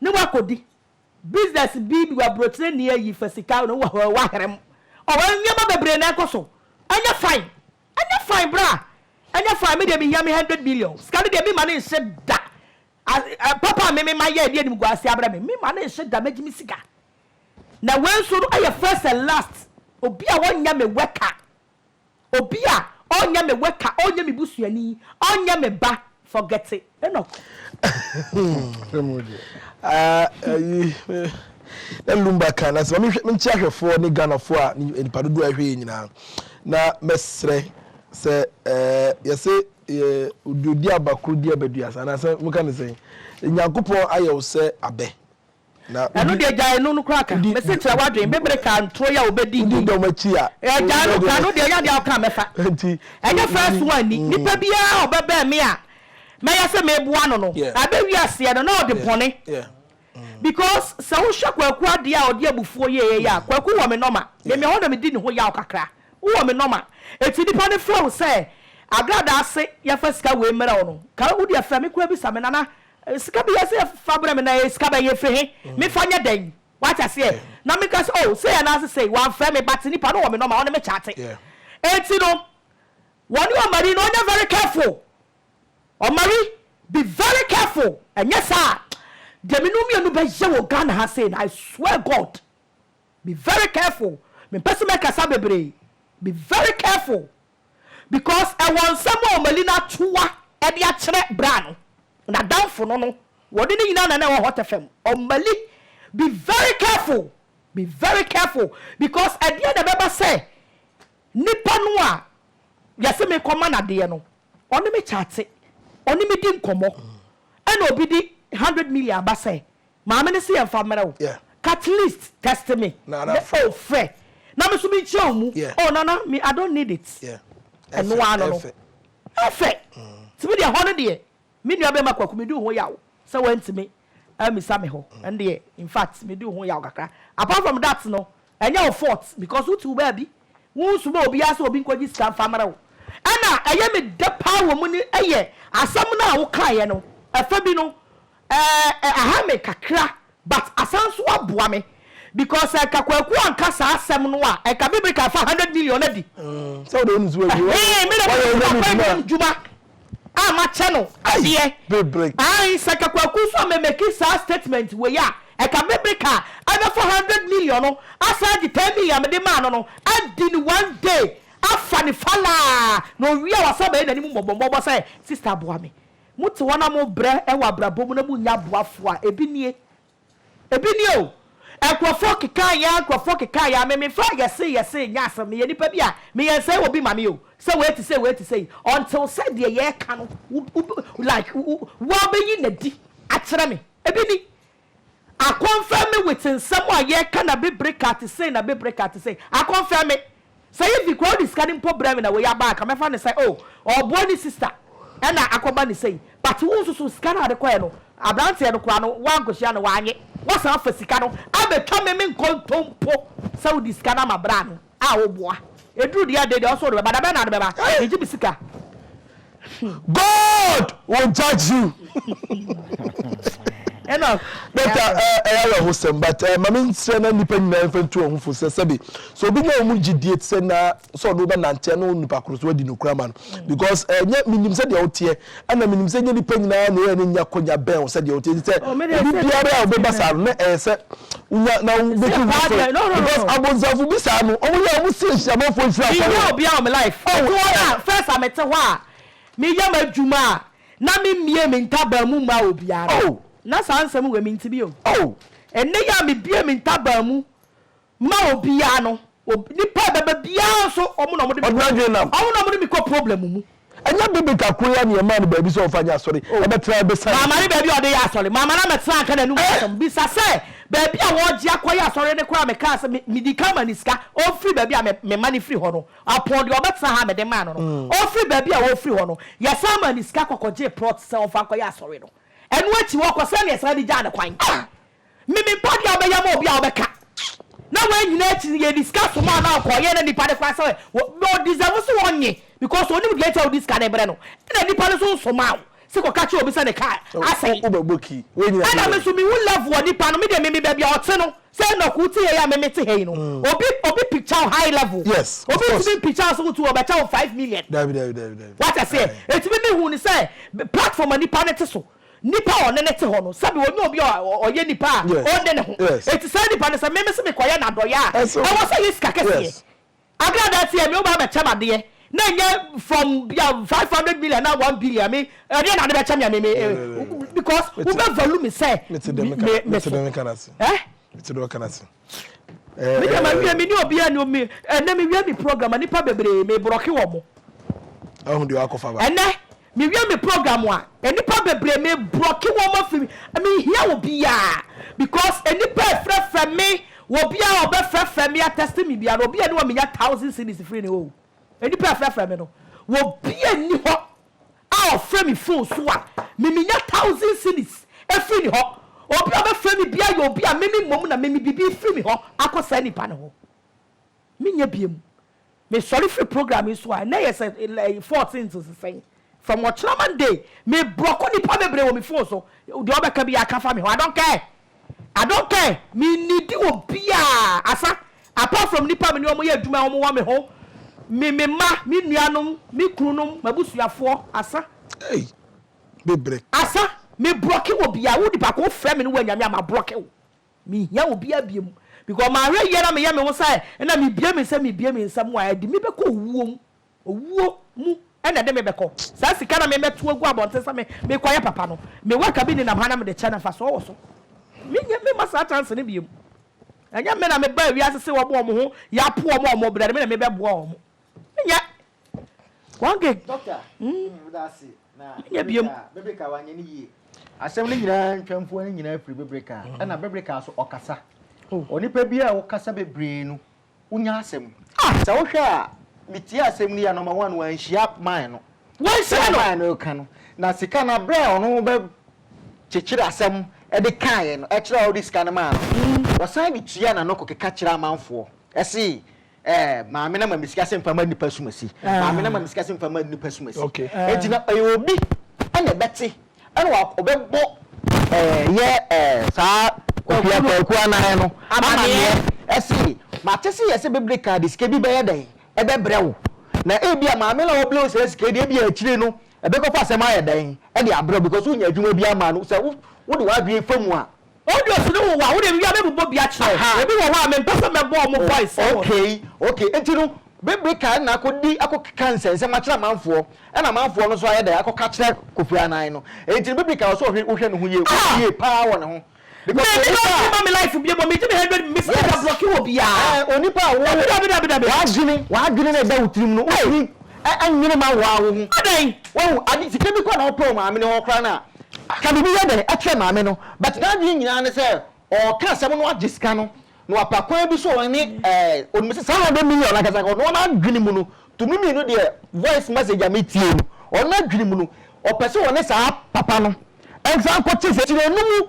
ne wakɔdi business bi wɔ aburokyire ni ayi fa sika na wɔ hɔ wahera mu ɔwɔ nneɛma bebree na ɛkɔ so ɛnyɛ fine ɛnyɛ fine bra ɛnyɛ fine me deɛ mehia me hundred million sika no deɛ me ma ne nhye da papa me me ma yɛ ɛdeɛ nim guase abrɛ me me ma ne nhye da mɛgye me sika na wei nso no ɛyɛ first and last obi a wɔnyɛ me wɛka Obi a ɔnyɛ me worker, ɔnyɛ me busuani, ɔnyɛ me ba, forget it. Enoch. Na Lumba ka, na sɛ ma menkye ahwɛfoɔ ne Ghanafoɔ a nnipa dodoɔ a ɛhwɛ yɛn nyinaa, na mɛsrɛ sɛ yɛse yɛ oduoduaba koro duaba duasa, anaasɛ moka no sɛn? Nyankopɔn ayɛ wo sɛ abɛ. Ɛno deɛ gyae no no koraa ka. Mese kyerɛ w'adwene bebere ka ntoro yi a wobɛdi nni. Wodi dɔm akyi a. Gyae no ka no deɛ ɛyɛ adeɛ a woka a mɛfa. Ɛnyɛ first one ni. Nipa biara a ɔbɛbɛn me a mɛyɛ sɛ meboa no no, ɛbɛwie aseɛ no na ɔde bɔne. Because sɛ wohwɛ Kwaku adeɛ a ɔde abufuo yɛeɛ yi a, Kwaku wɔ me nɔma. Me me hɔ na medi ne ho yaw kakra. Wowɔ me nɔma. Enti nipa no frɛ wo sɛ Agradaa se yɛmfa sika wei mmrɛ wo no, ka wodeɛ frɛ me koraa bisa me, Nana, Sika bi yɛ sɛ fa brɛ me na ɛyɛ sika bɛn yɛfiri he me fa nyɛ dɛn wate aseɛ na me ka sɛ oh sei anaase sei wamfrɛ me but nipa no wɔ me nɔma ɔne me kyate enti no wɔne ɔmari no ɔnyɛ very careful ɔmari be very careful ɛnyɛ saa deɛ me no mmienu bɛyɛ wɔ Ghana ha sei no I swear God be very careful mempɛ sɛ mɛkasa bebree be very careful. because ɛwɔ nsɛm a Omelina toa de akyerɛ bra no, n'adamfo no no, wɔne no nyinaa na na ɛwɔ Hot FM. Omali, be very careful, be very careful because ɛdeɛn na ɛbɛba sɛ nipa no a yɛse mekɔma no adeɛ no, ɔne me kyate, ɔne me di nkɔmmɔ, ɛna obi de hundred million aba sɛ Maame no se yɛn fa mmerɛ wo. At least test me na oh frɛ na me nso me nkyerɛ wo mu oh nana me I don't need it ɛno ara no no ɛfɛ nti me deɛ hɔ no deɛ me nua bɛɛma kwaku me di wo ho yaw sɛ wantumi amisa me hɔ ɛno deɛ in fact me di wo ho yaw kakra apart from that no ɛnyɛ wo fault because wo te wo baabi wo nsoma obiara sɛ obi nkɔgye sika mfa mmerɛ wo ɛna ɛyɛ me dɛ paa wɔ mu ne ɛyɛ asɛm no a wo kaeɛ no ɛfɛ bi no Eh ahaw me kakra but asan so aboa me because sɛ nka Kwaku anka saa asɛm no a nka me Brika fa hundred million adi. Sɛ wode wo nusu awie wayɛ Ɛhee me na meyɛ ɔwura me dwuma. dwuma a makyɛ no adeɛ. Bebrek. Ae sɛ nka Kwaku nso a me make saa statement wei a nka me Brika abɛfa hundred million no asan agye ten million a mede maa no no adi no one day afa no falaa na owie a wasan abɛyɛ n'anim mmɔbɔmmɔbɔ sɛ sister boa me. Mote wɔn a mobrɛ wɔ abrabɔ mu na monnya aboafoɔ a, ebi nie. Ebi nie o. Nkurɔfoɔ keka yɛn ara, nkurɔfoɔ keka yɛn ara. Me, memfa yɛse yɛse nyɛ asɛm. Meyɛ nipa bi a, meyɛ nsɛe obi ma me o. Sɛ wei te sei, wei te sei. Until sɛ deɛ yɛreka no, wo, wo, like, wo, woabɛyi no adi akyerɛ me. Ebi ni. Akɔnfɛm me wit nsɛm a yɛka na bibire ka te sei na bibire ka te sei. Akɔnfɛm me. Sɛ Ivy koraa ɔde sika no mpo brɛ me na wei aba a nka mɛfa no sɛ oh ɔɔboa ne sister ɛna akɔba no sei. But wo nso so sika no a ɔde kɔɛ no abranteɛ no koraa no woankɔhyia no woanye. Woasan afa sika no abɛtwa me menkɔ ntɔ mpo sɛ wode sika no ama braa no. a wo boa eduru deɛ ɛde deɛ ɔsoro de bɛba da bɛn na ade bɛba Hey! megye me sika hmm. God will judge you. ɛna dɔkta ɛyɛ awerɛhosɛm but eh, mame nsrɛ na nnipa nyinaa mfa ntu ɔho fo sɛ sɛbe sɛ obi nya ɔmu gyidie te sɛ na sɛ ɔne wobɛnanteɛ ne wo nnipa koro so adi nokora ma no because ɛnyɛ eh, menim sɛ deɛ woteɛ Ɛna menim sɛ ɛnyɛ nnipa nyinaa na ɛyɛ ne nya akwanya bɛn wo sɛdeɛ wote nti sɛ obi biara a wobɛba saa no na ɛyɛ sɛ wonya na wobɛtu ho fo because abonsamfo bi saa no wɔn yɛ a wɔn si ahyiamanfoɔ nhyira afɔre menyɛ obi a wɔn life ɛte hɔ na first a mete hɔ a meyɛ m'adwuma a na memmie me ntaban mu mma obiara na saa nsɛm wei mente bi o ɛnɛ yi a mebie me ntaban mu Ma obiara no wɔ nipa a ɛbɛba biara nso wɔn na wɔn de me kɔ problem mu wɔn na wɔn de me kɔ problem mu. Ɛnyɛ bibit akoa yi ara na yɛ maa no baabi sɛ ɔnfa nyɛ asɔre ɛbɛtena ɛbɛsa ne ti. Maame no baabi a ɔde yɛ asɔre maame no amɛtena anka n'anum asɛm bisa sɛ baabi a wɔgye akɔ yɛ asɔre no koraa me kaa sɛ me me di kan ma no sika ɔnfiri baabi a me me ma no firi hɔ no ɔpɔn deɛ ɔbɛtena ha a me de maa no no ɔnfiri baabi a ɔfiri hɔ no yɛ san maa no sika kɔ kɔ gyee plot sɛ ɔnfa nkɔ yɛ asɔre no ɛno akyi hɔ kɔ sɛdeɛ yɛ san de gyaa no kwan. Me me mpa deɛ wobɛyɛ ma obi a wobɛka na wei nyinaa akyi no yɛdi sika som a na ɔkɔyɛ na nipa no koraa sɛ wɔ ɔ deserve sɛ ɔnye because onim deɛ nti a wode sika no brɛ no ɛna nipa no nso nsomaa wo sɛ kɔka kyerɛ obi sɛ ne car asɛe ɛna me nso mehu level a nipa no me deɛ me me baabi a ɔte no sɛ Enoch wote ha yi a me mete ha yi no obi obi picture wo high level obi ntumi mpicture wo sɛ wotu ɔbɛkyɛ wo five million wate aseɛ ɛti me mehu no sɛ platform a nipa no te so nipa a ɔne no te hɔ no, sɛbi ɔnyɛ obi a ɔyɛ nipa a ɔnne ne ho. Enti saa nipa no sɛ me mese mekɔyɛ no adɔeɛ a, ɛwɔ sɛ yɛ sika kɛseɛ. Aberɛ a na sɛ me wobaa bɛkyɛ me adeɛ, na ɛnyɛ from bia five hundred million anaa one billion a, me ɛdeɛ na ade bɛkyɛ me a me me because wobɛ value me sɛ me so. Eh? Me deɛ mawie me ne obiara ni omi ɛnɛ me wie me program a nipa bebree me brɔke wɔ mo. Ɛho deɛ wakɔ fa ba. Ɛnɛ me wie me program a nipa bebree me brɔke wɔ mo afi me hia wɔ biara because nipa ɛfrɛfrɛ me wɔ biara ɔbɛ frɛfrɛ me atɛste me biara obi ɛni wɔ me nya thousand cities free ni o nipa ɛfrɛfrɛ me no wɔ biara ni hɔ. A ɔfrɛ me phone so a, me menya thousand cedis firi ne hɔ. Obi a ɔbɛfrɛ me biara yɛ obi a me me mmom na me me biribi firi me hɔ akɔ saa nipa no hɔ. Menyɛ biam. Me sɔre firi program yi so a, ɛnnɛ yɛ sɛ fourteenth nso sɛn? From ɔkyena Monday, me brɔko nipa bebree wɔ me phone so. Deɛ ɔbɛka biara ka fa me ho, I don't care. Adon kɛ, Minnidi obiaa asa apart from nnipa a me ne wɔn yɛ adwuma a wɔn wɔ me ho, me me mma, me nuanom, me kununom, m'abusuafoɔ, asa. Ei! Me brɛ. Asa, me brɔke obiaa, wo nipa ko, wo frɛ me ne wo anyame a, ma brɔke wo. Me hia obiaa biom because mahwɛ yie na me yɛ me ho sɛ nna me bie me nsam me bie me nsam a, ɛde me bɛkɔ owuo mu. Owuo mu na ɛde me bɛkɔ. Saa sika no a mebɛto agu abɔnten sɛ mekɔyɛ papa no, me worka bi nenam ha na mede kyɛ no, mfasoɔ wɔ so? Mennya, memma saa chance no biom. Ɛnyɛ me na mebaa wiase se wɔn a wɔn ho yɛ apo wɔn a wɔbrɛ no, me na mebɛboa wɔn. Menyɛ. One gig. Doctor, meda ase. Na Bebreka, Bebreka wanyɛ no yie. Asɛm no nyinaa ntwamfoɔ no nyinaa firi Bebreka, ɛna Bebreka nso ɔkasa. Onipa biara a wokasa bebree no, Wonya asɛm. Ah! Sɛ wohwɛ a, mitiee asɛm no yie a, number one, wanhyia man no. Wanhyia no! Sɛdeɛ man no reka no, na sika no, berɛ a ɔno bɛkyekyere asɛm de kaeɛ no, ɛkyerɛ a wode sika no maa no, ɔsan de tua na na ɔkɔkeka kyerɛ amanfoɔ se, eh, maame no ama me sika sɛ mfa ma nnipa asumasi, maame no ama me sika sɛ mfa ma nnipa asumasi. Enti na ɛyɛ obi na ɛbɛte ɛna wa ɔbɛbɔ ɛɛ yɛ ɛɛ saa kwakua kwakua nan no amaneɛ ɛsi mate se yɛsɛ bɛbrɛ kaa de sika bi bɛyɛ dɛn ɛbɛbrɛ wo na ebi a maame na ɔbrɛ wo saa sika yi de ebi a akyire no ɛbɛkɔfa asɛm ayɛ dɛn ɛde abrɛ wo because wonya adwuma bi ama no sɛ wo wode w'adwene fa mu a Audios no wowɔ a wode wie a me bobɔ bi akyerɛ wo. Aha. Ebi wɔ hɔ a me mpɛ sɛ mɛ bɔ ɔmo voice ɛwɔ so. Okay okay enti no bibire kae na akɔ di akɔ keka nsɛnsɛm akyerɛ amanfoɔ ɛna amanfoɔ no nso ayɛ dɛn akɔ ka kyerɛ Kofi Anan no enti no bibire kae wɔ sɛ ɔhwɛ wo hwɛ ne ho yie wo Ah! yie paa wɔ ne ho because Mɛ me onipa a. lɔnki ma me life bio mɔ me gye me hundred me sɛ me da Yes. blɔki wɔ biaa. Ɛɛ onipa a wo Dabi dabi dabi dabi. w'adwene w'adwene na ɛda wo tirim no Ei! wontumi ɛ ɛnwene ma wo ara wo ho. Adɛn? Wahu ade sika bi koraa na ɔpɛ wɔ maame no hɔ koraa no a Ka biribi yɛ dɛn kyerɛ maame no? But n'adwene nyinaa ne sɛ ɔɔka asɛm no agye sika no na wapa kwan bi so ɔne ɛɛ onum sɛ saa hundred million no ankasa kɔ no n'adwene mu no tumi mmienu deɛ voice message a me tie no ɔno n'adwene mu no ɔpɛ sɛ ɔne saa papa no nsan kɔ te sɛ kyerɛ no mu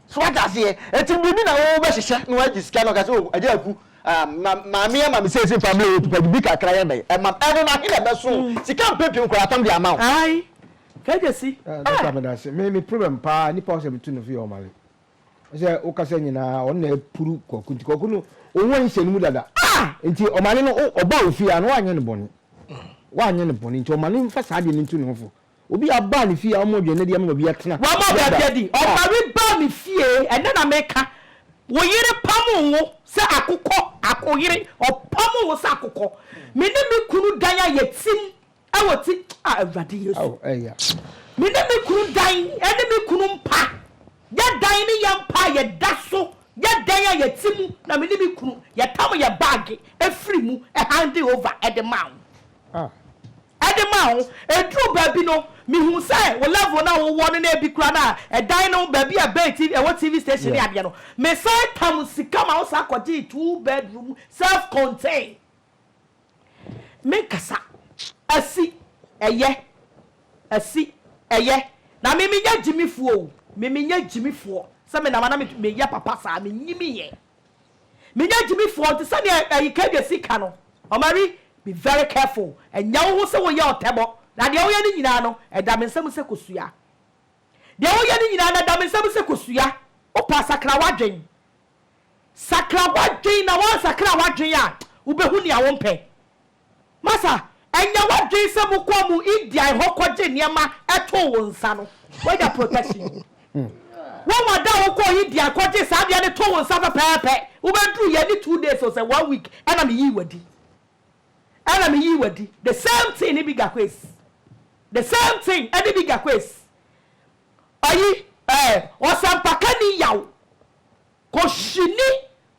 So wate aseɛ? Enti biribi na wo bɛ hyehyɛ na wagye sika na ɔka sɛ oh agya aku um, ma, maame ama me seesei fa mmerɛ wɔ padi bi kakra yɛ dɛn ɛma ɛno no ahe na ɛbɛso wo? Sika mpɛ pii nkwadaa tam de ama wo. Ae kɛgyesi Ah doctor ah. medase me me problem paa nipa ɔsɛ metu no fie ɔmale ɔsɛ wokasa nyinaa ɔno na apuru kwaku nti kwaku no oho anhyɛ no mu dada ah nti ɔmale no ɔbaa ofie a na wanyɛ no bɔne wanyɛ no bɔne nti ɔmale mfa saa deɛ no ntu ne ho fo Obi a ɔbaa ne fie a ɔma aduane adi ama baabi atena. Wama baabi adi. Ɔbari baa me fie, ɛnnɛ na meka. Wo yere pamoo wo sɛ akokɔ, akoyere, ɔpamoo wo sɛ akokɔ. Me ne me kunu dan a yɛtim wɔ ti, ah Awurade Yesu. Ao, ɛyɛ a. Me ne me kunu dan, ɛne me kunu mpa. Yɛ dan ne yɛn mpa a yɛda so, yɛ dan a yɛte mu, na me ne me kunu, yɛtam yɛn baage firi mu, ɛhan Jehovah de maa wo. Ah. de ma wo. Ɛduru baabi no, mehu sɛ wo level no a wowɔ no na ɛbi koraa no a ɛdan no baabi a ɛbɛn TV, ɛwɔ TV station ne adeɛ no, mesan tam sika ma wo san kɔgyee two bedroom self contain. Menkasa. Asi. Ɛyɛ. Asi. Ɛyɛ. Na me menyɛ gyimifoɔ o, me menyɛ gyimifoɔ sɛ me na ma na meyɛ papa saa, menyimiiɛ. Menyɛ gyimifoɔ nti sɛdeɛ ɛyi Kade si ka no, Omari, be very careful, ɛnyɛ wo ho sɛ woyɛ ɔtɛbɔ na deɛ woyɛ no nyinaa no ɛda me nsa mu sɛ kosua. Deɛ woyɛ no nyinaa no ɛda me nsa mu sɛ kosua, wopɛ a sakra w'adwen. Sakra w'adwen na woansakra w'adwen a wobɛhu nea wompɛ. Masa, ɛnyɛ w'adwene sɛ mokɔɔ mo Indian hɔ kɔgye nneɛma too wo nsa no? Woanya protection? Woahu ada a wokɔɔ Indian kɔgyee saa adeɛ no too wo nsa pɛpɛɛpɛ? Wobɛduruiɛ ɛne two days o, sɛ one week ɛna meyii w'adi. Ɛna meyii w'adi. The same thing ne Bigger Quays. The same thing ɛne Bigger Quays. Ɔyi, ɛɛ, ɔsɛmpakani yaw. Koshini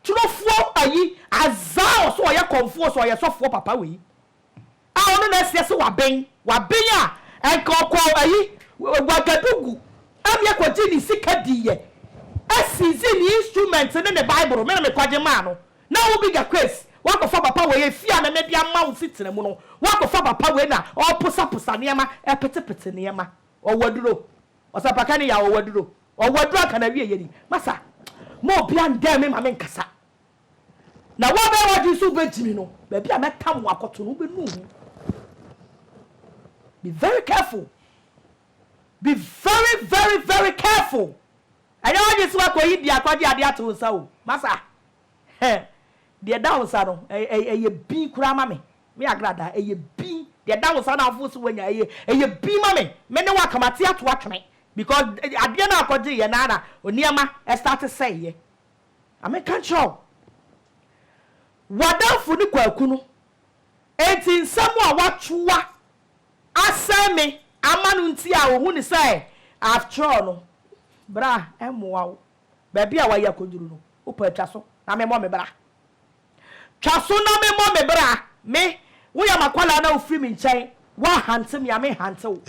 torofoɔ ayi azaa ɔsɛ ɔyɛ kɔmfoɔ ɔsɛ ɔyɛ sɔfoɔ papa wei a ɔno na ɛseɛ se waben waben a ɛnka ɔkɔ ayi wagadugu ɛmeɛ kɔgye ne sika diiɛ ɛsizi ne instrument ne ne bible me na me kɔgye maa no na wo bigger case wakɔfa papa wei efie a na mede ama wo fitina mu no wakɔfa papa wei na ɔposa posa nneɛma ɛpete pete nneɛma ɔwɔ aduro ɔsɛ paka ne ya ɔwɔ aduro. Ɔwɔ aduru anka n'awieeɛ ni. Masa, mma obiara ndɛn me ma menkasa. Na woabɛyɛ w'adwene sɛ wobɛgye me no, baabi a mɛtam wo akɔto no, wobɛnu ho. Be very careful. Be very, very, very careful. Ɛnyɛ w'adwene sɛ woakɔyi biako de adeɛ ato wo nsa o. Masa. Hɛ! Deɛ ɛda wo nsa no, ɛ, ɛ, ɛyɛ bin koraa ma me. Me Agrada, ɛyɛ bin. Deɛ ɛda wo nsa no a wofoo sɛ woanya, ɛyɛ, ɛyɛ bin ma me. Me ne wo aka, mate ato atwene. Because, ɛ, adeɛ no a ɔkɔgyeeɛ no ara na nneɛma starte sɛeeɛ. Na meka nkyerɛ wo, w'adamfo ne Kwaku no, enti nsɛm a wɔatoa asɛe me ama no nti a ohu no sɛ I've tried no, bra, ɛmmoa wo. Baabi a wɔayi akɔnnuru no, wo paa twa so na memmɔ me bra. Twa so na memmɔ me bra, me, woyɛ m'akwadaa no a wofiri me nkyɛn, woanhante me a menhante wo.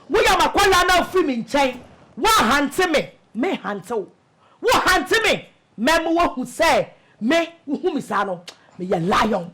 Woyɛ m'akwadaa no a wofiri me nkyɛn, woanhante me, menhante wo. Wohante me, mɛma woahu sɛ me, wohu me saa no, meyɛ lion,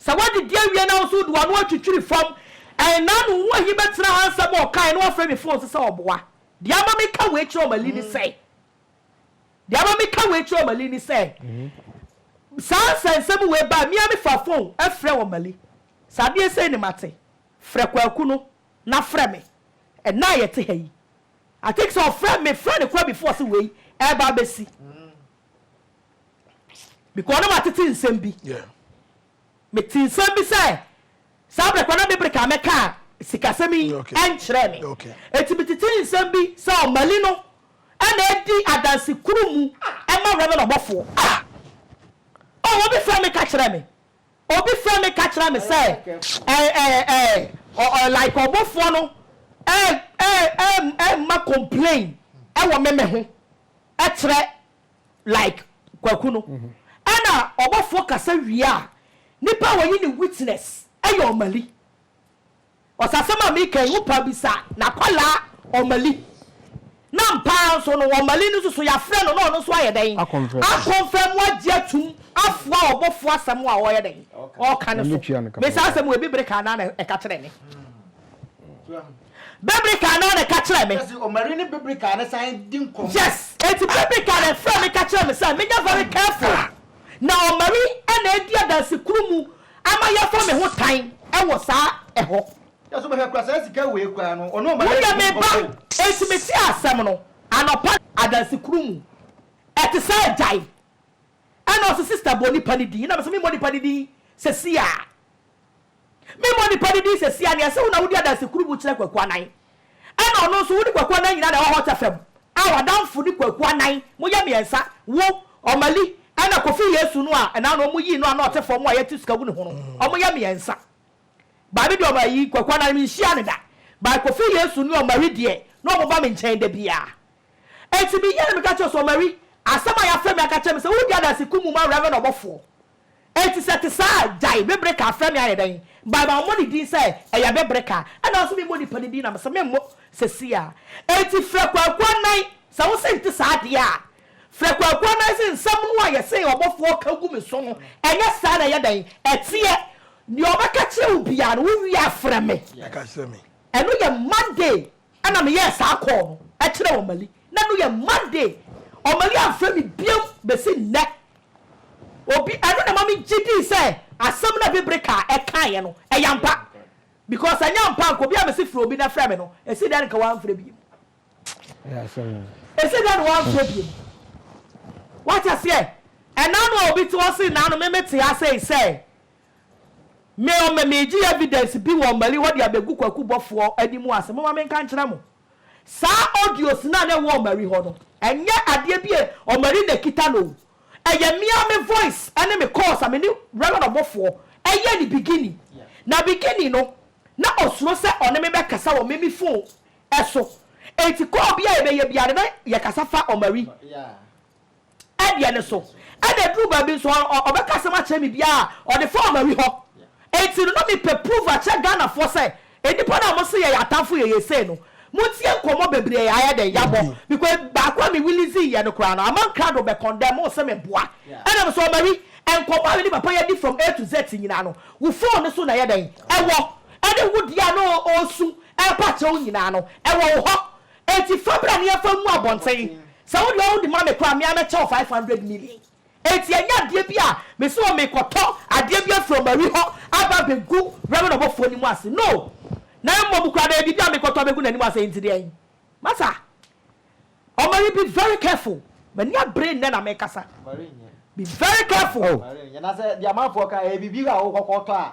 Sɛ woadidi awie na wo nso wode w'ano atwitwiri fam ɛn na ano ho ahi bɛtena ha nsɛm a ɔkaeɛ na wafrɛ me phone so sɛ ɔboa. Deɛ ama meka wei kyerɛ Omali ne sɛ Deɛ ama meka wei kyerɛ Omali ne sɛ saa nsɛnsɛm wei baa me a mefaa phone frɛɛ Omali sɛ adeɛ sei ne mate frɛ Kwaku no na frɛ me ɛnnɛ a yɛte ha yi I think sɛ ɔfrɛ mefrɛɛ no koraa before sɛ wei ɛreba abɛsi. Because na matete nsɛm bi. Metee nsɛm bi sɛ saa berɛ korɔ na me bere ka mɛkaa sikasɛm yi nkyerɛɛ me. Enti metetee nsɛm bi sɛ Ɔmali no na adi adanse koro mu ma Rev. Ɔbɔfoɔ. Ah! Oh, obi frɛ me ka kyerɛ me. Obi frɛ me ka kyerɛ me sɛ eh, eh, eh, ɔ, ɔ, like Ɔbɔfoɔ no eh, eh, eh, eh, ma complain wɔ me me ho. kyerɛ like kwaku no ɛna ɔbɔfoɔ kasa wie a nipa a ɔye ne witness yɛ ɔmali ɔsɛ asɛm a meka yi wopaa bisa nakɔlaa ɔmali na mpaa nso no ɔmali no nso so yafrɛ no na ɔno nso ayɛ dɛn akɔnfɛmu agye atum afoa ɔbɔfoɔ asɛm a ɔyɛ dɛn ɔka no so mesaa asɛm wɔ ebi bere kaa naa na ɛka kyerɛ ne Bebrika na na ka kyerɛ me. Yes, eti Bebrika na ɛfrɛ me ka kyerɛ me sɛ menyɛ very careful. Na Omari na edi adansi koro mu ama yɛafa me ho tan wɔ saa ɛhɔ. Woyɛ me ba, enti metee asɛm no anɔpa. Adansi koro mu, ɛte sɛ agyae. Ɛna ɔse sister bɔ nipa no din, ɛna mese memmɔ nipa no din sɛsi a. Memmɔ nipa no din seesei a, nea ɛsɛ wo na wodi adanse kurubu kyerɛ Kwaku Anan. Ɛna ɔno nso, wo ne Kwaku Anan nyinaa na ɛwɔ Hot FM a w'adamfo ne Kwaku Anan. Moyɛ mmiɛnsa, wo, Omali, ɛna Kofi Yesu no a ɛnã no wɔyii no a na ɔte fam a yɛatu sika agu ne ho no. Wɔyɛ mmiɛnsa. By me deɛ ɔma ayi, Kwaku Anan, menhyiaa no da. By Kofi Yesu ne Omali deɛ, na wɔba me nkyɛn da biara. Enti meyɛɛ no, meka kyerɛɛ no sɛ, Omali, asɛm a yɛafrɛ me aka akyerɛ me sɛ woredi adanse kurubu ma Rev. Ɔbɔfoɔ. Enti sɛ ɛte saa a, gyae. Bibire kaa frɛ me ayɛ dɛn? By mammɔ ne din sɛ ɛyɛ bibire ka. Ɛna ɔse memmɔ nipa no din na mese memmɔ sesie a. Enti frɛ Kwaku Anan. Sɛ wose nte saa deɛ a, frɛ Kwaku Anan se nsɛm no a yɛse ɔbɔfoɔ ka gu me so no, ɛnyɛ saa na ɛyɛ dɛn? Ɛteɛ. Deɛ ɔbɛka kyerɛ wo biara no, wowie a frɛ me. Ɛno yɛ Monday Ɛna me yɛɛ saa kɔɔ no ɛkyerɛ Ɔmali na no yɛ Monday Ɔmali anfrɛ me biom bɛsi nnɛ Obi ɛno na ɛma me gye dii sɛ asɛm no a Bibri kaa ɛkaeɛ no ɛyɛ ampa because anyɛ ampa anka obi a mese frɛ obi na ɛfrɛ me no ɛsi dɛn nka wanfrɛ biom ɛsi dɛn na wanfrɛ biom Wate aseɛ ɛna no a obi te hɔ se na no me me te ha sei sɛ Me o me megye evidence bi wɔ Mali hɔ de abegu Kwaku bɔfoɔ anim ase momma menka nkyerɛ mo saa audios no a na ɛwɔ Mali hɔ no ɛnyɛ adeɛ bi a Mali na ɛkita no o ɛyɛ me ara me voice ne me calls a me ne Rev Ɔbɔfoɔ yɛ ne beginning na beginning no na ɔsuro sɛ ɔne me bɛkasa wɔ me me phone so enti call bi a yɛbɛyɛ biara no na yɛkasa fa Mali deɛ no so. Ɛna ɛduru baabi nso ɔ, ɔ, ɔbɛka asɛm akyerɛ me bi a, ɔde fa Omari hɔ. Enti no, na mepɛ proof akyerɛ Ghanafoɔ sɛ, nnipa no a mose yɛyɛ atamfo yɛyɛ sei no, montie nkɔmmɔ bebree a yɛayɛ dɛn? Yɛabɔ. Because baako a me releaseeɛ no koraa no, Amang Krado bɛ condemn wo sɛ meboa. Ɛna mese, Omari, nkɔmmɔ a me ne papa yi adi from A to Z nyinaa no, wo phone no so na ɛyɛ dɛn? Ɛwɔ. Ɛne wo deɛ a na ɔ, ɔresu repa akyerɛ wo nyinaa no, ɛwɔ wo hɔ. Enti fa bra na yɛmfa ngu abɔnten. Sɛ wo deɛ wode ma me koraa a, me ara mɛkyɛ wo five hundred million. Enti ɛnyɛ adeɛ bi a mese o merekɔtɔ adeɛ bi afiri Omari hɔ aba abɛgu Reverend Obofoɔ anim ase. No! Na mmom koraa no ɛyɛ biribi a merekɔtɔ abɛgu n'anim ase. Enti deɛn? Masa, Omari be very careful. M'ani abere nnɛ na merekasa. Be very careful. Oh, nyɛ na sɛ deɛ amanfoɔ ka, ɛyɛ biribi a wokɔkɔtɔ a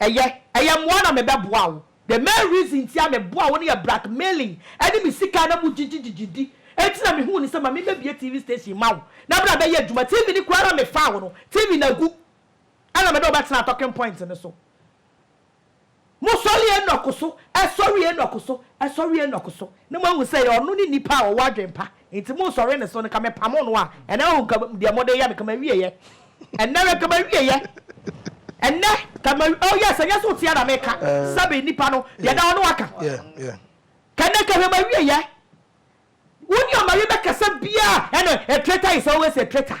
Ɛyɛ, ɛyɛ mmoa na mebɛboa wo. The main reason nti a meboa wo no yɛ blackmailing ɛne me sika na mu gyigyi gyigyi di nti na mehuu no sɛ ma mebɛbue TV station mma wo na bra bɛyɛ adwuma. TV no koraa na mefaa wo no, TV no agu ɛna mede wo bɛtenaa talking point no so. Mosɔre Enoch so, ɛsɔre Enoch so, ɛsɔre Enoch so na moahu sɛ ɛyɛ ɔno ne nipa a ɔwɔ adwene pa Nti mo nsɔre ne so no ka me pamo no a ɛnɛ wahu ka deɛ mo de yɛ no ka ma wie yɛ ɛnɛ wɛ ka ma wie yɛ ɛnɛ ka ma oh yes ɛnyɛ so tia na me ka sɛbi nipa no deɛ da ɔno aka ka ɛnɛ ka hwɛ ma wie yɛ wo ni ɔma wie bɛ kasa bia ɛnɛ a traitor is always a traitor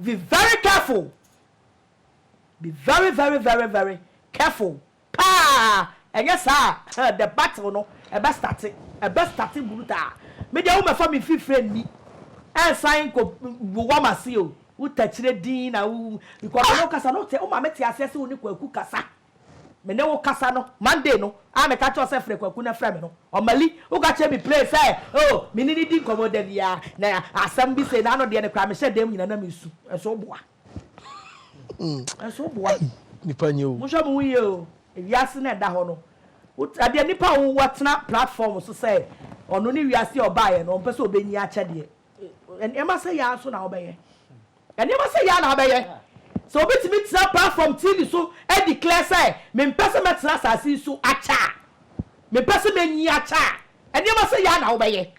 Be very careful be very very very very careful paa ɛnyɛ saa a huh the battle no ɛbɛ starte ɛbɛ starte brutaa me deɛ wo mɛfa me mfifire nni ɛnsan nkɔ wowa m'ase o wo takyire din na wo because me ne wo kasa no wo te wo ma me te aseɛ se wo ne kwaku kasa Me ne wo kasa no, Monday no a meka kyerɛ wo sɛ frɛ Kwaku na frɛ me no, Omali, woka kyerɛ me plain sɛ oh, me ne no di nkɔmmɔ da biara, na asɛm bi sei na ano deɛ no koraa mehyɛ dan mu nyinaa na mesu. Ɛnso woboa. Ɛnso woboa. Nipa nyɛ o. Monhwɛ mo ho yie o. Ewiase na ɛda hɔ no. Adeɛ nipa a wɔtena platform so sɛ ɔno ne wiase a ɔbaeɛ no, ɔmpɛ sɛ ɔbɛnyi akyɛdeɛ. Nneɛma sɛ yɛ ara nso na wobɛyɛ. Nneɛma sɛɛ yi ara na abɛyɛ sɛ wobetumi tena platform TV so a declare sɛ mempɛ sɛ mɛtena asase yi so akyɛ a, mempɛ sɛ menyin akyɛ a, nneɛma sɛɛ yi ara na wobɛyɛ.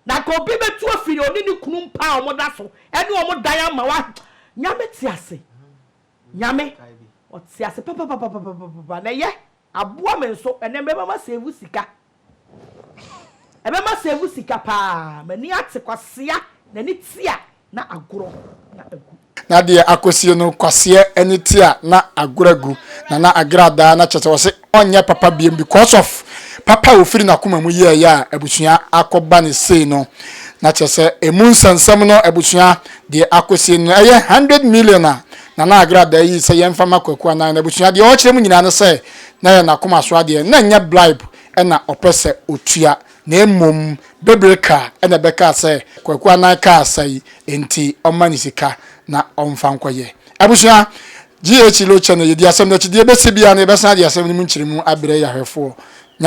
Na anka obi betu afi ne ɔne ne kunu mpa a wɔda so ne wɔn dan ama wa Nyame te ase, Nyame, ɔte ase papapapapapapa na ɛyɛ. Aboa me nso ɛnɛ mɛma ma save sika ɛbɛma save sika paa m'ani ate kwasea n'ani te a na agorɔ na agu. Na deɛ akɔsie no kwaseɛ ani te a na agorɔ agu na na agradaa no kyerɛ sɛ ɔse ɔnyɛ papa biom because of papa a ɔfiri n'akoma mu yɛɛyɛ a abusua akɔ ba no sei no na kyerɛ sɛ ɛmu nsɛnsɛm no abusua deɛ akɔsie no ɛyɛ hundred million a Nana Agra da yi sɛ yɛmfa ma Kwaku anaa n'abusua. Deɛ ɔrekyerɛ mu nyinaa ne sɛ na ɛyɛ n'akoma so adeɛ. Na ɛnyɛ bribe na ɔpɛ sɛ ɔtua, na mmom bebire ka na ɛbɛkaa sɛ Kwaku anan kaa sa yi nti ɔmma no sika na ɔmfa nkɔyɛ. Abusua, GH Lo Channel, yɛdi asɛm no akyi. Deɛ ɛbɛsi biara no, yɛbɛsan de asɛm no mu nkyerɛmu abrɛ yɛn ahwɛfoɔ.